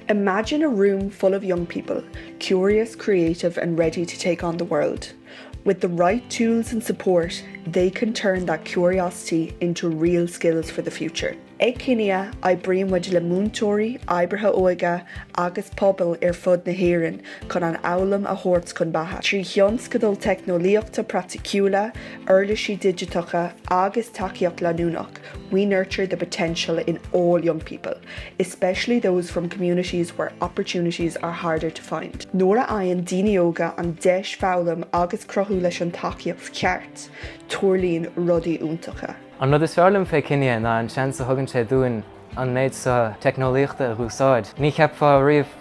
Imagine a room full of young people, curious, creative and ready to take on the world. With the right tools and support, they can turn that curiosity into real skills for the future. Ag Kinia, oibríonn muid le múinteoirí, oibrithe óige agus pobail ar fud na hÉireann chun an fhoghlaim a thabhairt chun beatha. Trí thionscadail teicneolaíochta praiticiúla, uirlisí digiteacha agus tacaíocht leanúnach, we nurture the potential in all young people. especially those from communities where opportunities are harder to find. Nuair a fhaigheann daoine óga an deis foghlaim agus cruthú leis an tacaíocht cheart, tarlaíonn rudaí iontacha. An rud is fearr liom fé Kinia ná an seans a thugann sé dúinn an méid seo teicneolaíochta a úsáid. Ní cheapfá riamh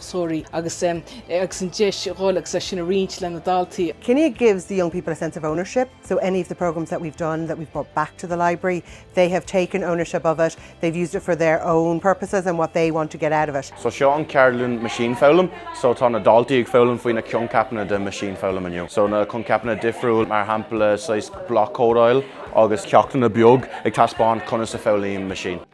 sorry, agus agus an deis a dhul agus é sin a roinnt lena daltaí. Kinia gives the young people a sense of ownership, so any of the programmes that we've done that we've brought back to the library, they have taken ownership of it, they've used it for their own purposes and what they want to get out of it. So seo an ceardlann Machine Foghlaim, so tá na daltaí ag foghlaim faoi na coincheapanna de Machine Foghlaim inniu. So na coincheapanna difriúil, mar shampla saghas bloc-códáil agus ceachtanna beag ag taispeáint conas a foghlaimíonn Machine.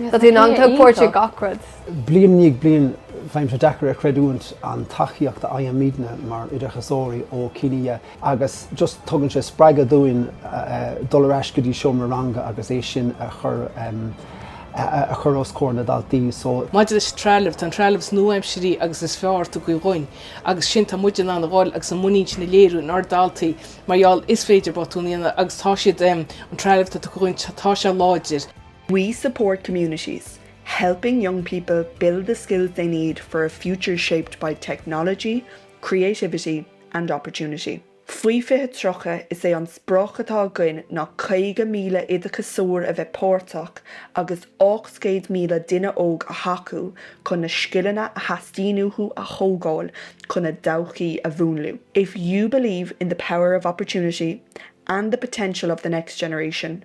Tá tú in ann tógáil páirt i gach rud. Bliain i ndiaidh bliain, bíonn sé deacair a chreidiúint an tacaíocht a fhaighimidne mar oideachasóirí ó Kinia agus just tugann sé spreagadh dúinn dul ar ais go dtí seomra ranga agus é sin a chur os comhair na daltaí. So. Maidir leis an trealamh, tá an trealamh is nua-aimsirí agus is fearr tugtha dhúinn agus sin tá muid in ann a dhul agus a muinín sin a léiriú in ár daltaí mar gheall is féidir botúin a dhéanamh agus tá siad, an trealamh atá tugtha dhúinn, tá sé láidir. We support communities, helping young people build the skills they need for a future shaped by technology, creativity and opportunity. Faoi 2030, is é an sprioc atá againn ná 50,000 oideachasóir a bheith páirteach agus 800,000 duine óg a thacú chun na scileanna a theastaíonn uathu a thógáil chun a dtodhchaí a mhúnlú. If you believe in the power of opportunity and the potential of the next generation,